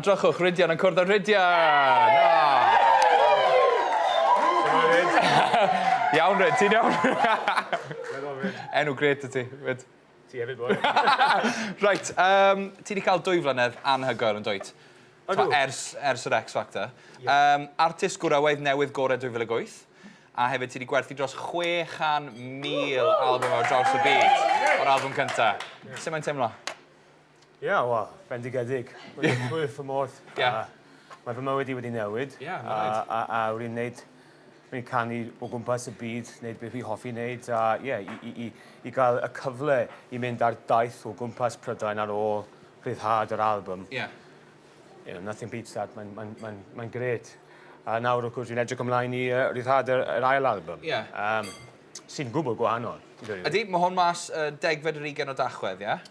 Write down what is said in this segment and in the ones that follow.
Drychwch, Rhydian yn cwrdd â Rhydian! Iawn, Rhyd, ti'n iawn? Enw gret y ti, Rhyd. Ti hefyd, boi. Reit, um, ti wedi cael dwy flynedd anhygoel yn dweud. Ydw. Ers, ers yr X Factor. Yeah. Um, artist gwrawaidd newydd gorau 2008. A hefyd ti wedi gwerthu dros 600,000 album ar draws y byd. O'r album cyntaf. Yeah. Sut mae'n teimlo? Ie, wel, bendigedig. Wedi llwyr fy modd. Ie. Mae fy mywyd i wedi newid. Ie, mae'n rhaid. A, a, a wedi wneud... Wedi canu o gwmpas y byd, wneud beth fi hoffi wneud, a ie, i, i, i, i gael y cyfle i mynd ar daith o gwmpas Prydain ar ôl rhyddhad yr album. Ie. Yeah. You know, nothing beats that, mae'n mae, mae, mae, mae gret. A nawr, wrth gwrs, dwi'n edrych ymlaen i uh, rhyddhad yr, yr ail album. Ie. Yeah. Um, sy'n gwbl gwahanol. Ydy, mae hwn mas uh, degfed yr ugen o dachwedd, ie? Yeah?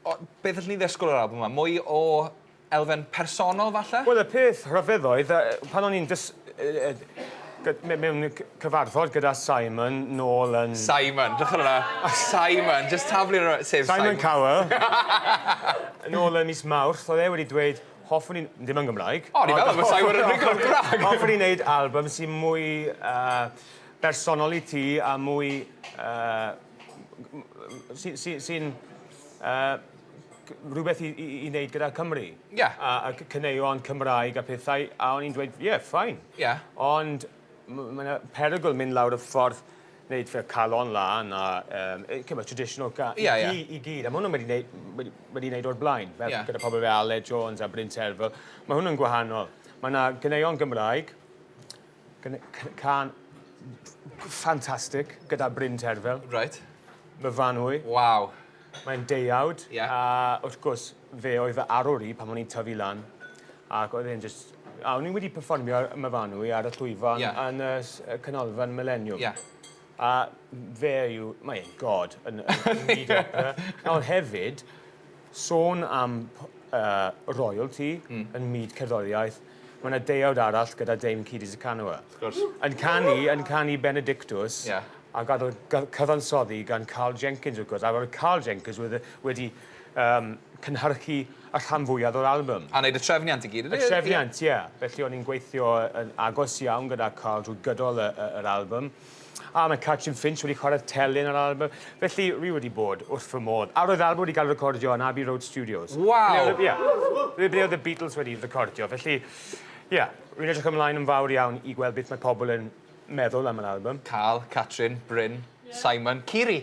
O, beth allwn ni ddysgwyl o'r albwm 'ma? Mwy o elfen personol, falle? Wel, y peth rhyfedd oedd, pan o'n i'n dys... mewn cyfarfod gyda Simon nôl yn... Simon, drychwch ar hwnna. Simon, jyst taflu rhywun, sef Simon. Simon Cowell. Nôl yn mis Mawrth, oedd e wedi dweud, hoffwn i... dim yn Gymraeg. O, ni meddwl bod Simon yn rhugl yn Gymraeg! Hoffwn i wneud albwm sy'n mwy bersonol i ti a mwy... sy'n sy, sy uh, rhywbeth i, i, i wneud gyda Cymru. Ie. Yeah. A, a cyneuon Cymraeg a pethau, a o'n i'n dweud, ie, yeah, ffain. Ie. Yeah. Ond mae yna perygl mynd lawr y ffordd wneud fel calon lan a um, cymryd traditional ga yeah, i, yeah. i gyd. A mae hwnna'n wedi wneud, wedi, wedi wneud o'r blaen, fel yeah. gyda pobl fel Ale Jones a Bryn Terfel. Mae hwnna'n gwahanol. Mae yna gyneuon Gymraeg, Can ffantastig gyda Bryn Terfel. Reit. Myfanwy. Waw. Mae'n deuawd. Ie. A wrth gwrs, fe oedd fy arwr i pan o'n i'n tyfu lan. Ac oedd e'n jyst... A o'n i wedi perfformio ar Myfanwy ar y llwyfan... Ie. ...yn y s- y canolfan Mileniwm. Ie. A fe yw, mae e'n god yn, yn byd opera. Nawr hefyd, sôn am uh, royalty mm. yn myd cerddoriaeth, mae yna deuawd arall gyda Dame Cidi Zacanwa. Yn canu, yn canu Benedictus, yeah. a gadodd cyfansoddi gan Carl Jenkins, wrth gwrs. A roedd Carl Jenkins wedi, wedi um, cynhyrchu Y rhan fwyaf o'r albym. A wneud y trefniant i gyd, ydy? Y trefniant, ie. Felly o'n i'n gweithio yn agos iawn gyda Carl drwy gydol y, y, yr album. A mae Catrin Finch wedi chwarae'r telyn ar album. Felly, wi wedi bod wrth fy modd. A roedd album wedi cael recordio yn Abbey Road Studios. Waw! Ble, ie. Ble ble oedd y Beatles wedi recordio. Felly, ie. Rwy'n edrych ymlaen yn fawr iawn i gweld beth mae pobl yn meddwl am yr album. Carl, Catrin, Bryn, Simon, Kiri!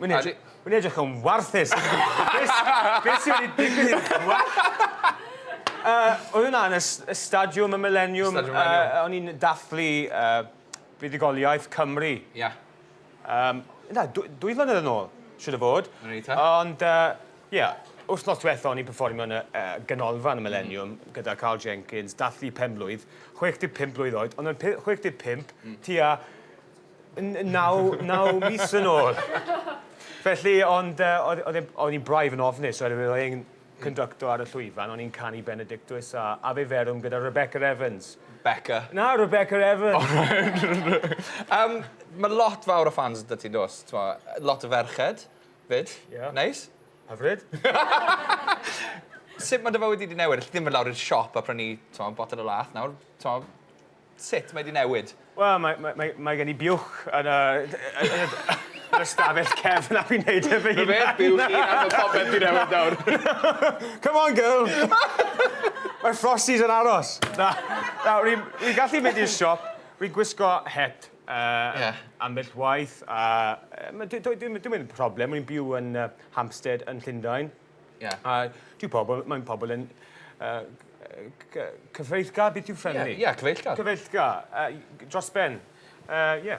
Mae'n edrych, mae'n edrych yn warthus. Beth sy'n wedi digwydd i'r gwallt? Uh, oedd hwnna yn y, y stadiwm, y millennium. Stadiwm millennium. Uh, o'n i'n dathlu uh, buddugoliaeth Cymru. Ia. Yeah. Um, na, dwy, dwy flynedd yn ôl, siwr o fod. Ond, ie, uh, yeah, wythnos diwetha o'n i'n performio yn y uh, ganolfan y Millennium mm. gyda Carl Jenkins, dathlu pen blwydd, 65 blwydd oed, ond yn 65, mm. tua naw mis yn ôl. Felly, ond e, oedd, oedd e, oedd hi'n braidd yn ofnus, oedd oedd e'n conductor ar y llwyfan, o'n i'n canu Benedictus a Ave Verum gyda Rebecca Evans. Becca. Na, Rebecca Evans. um, mae lot fawr o fans da ti'n dos, lot o ferched, fyd, yeah. neis. Hyfryd. Sut mae dy fywyd wedi newid? Alli ddim yn lawr i'r siop a prynu, ti'n botol o lath nawr, ti'n Sut mae 'di newid? Wel mae mae mae mae gen i biwch yn y yn y yn y stafell cefn a fi'n neud e fy hunan. Rhyfedd biwch chi a ma' popeth 'di newid nawr. Come on girl! Mae Frosties yn aros. Na, na, wi wi gallu mynd i'r siop, wi gwisgo het yy Ie. ambell waith a yy ma' dy- doedd dim dim yn problem, wi'n byw yn yy Hampstead yn Llundain. Ie. A dwi pobol... Mae'n pobol yn yy c- yy cyfeillgar? Beth yw friendly? Ie ie cyfeillgar. Cyfeillgar. Yy dros ben. Yy ie.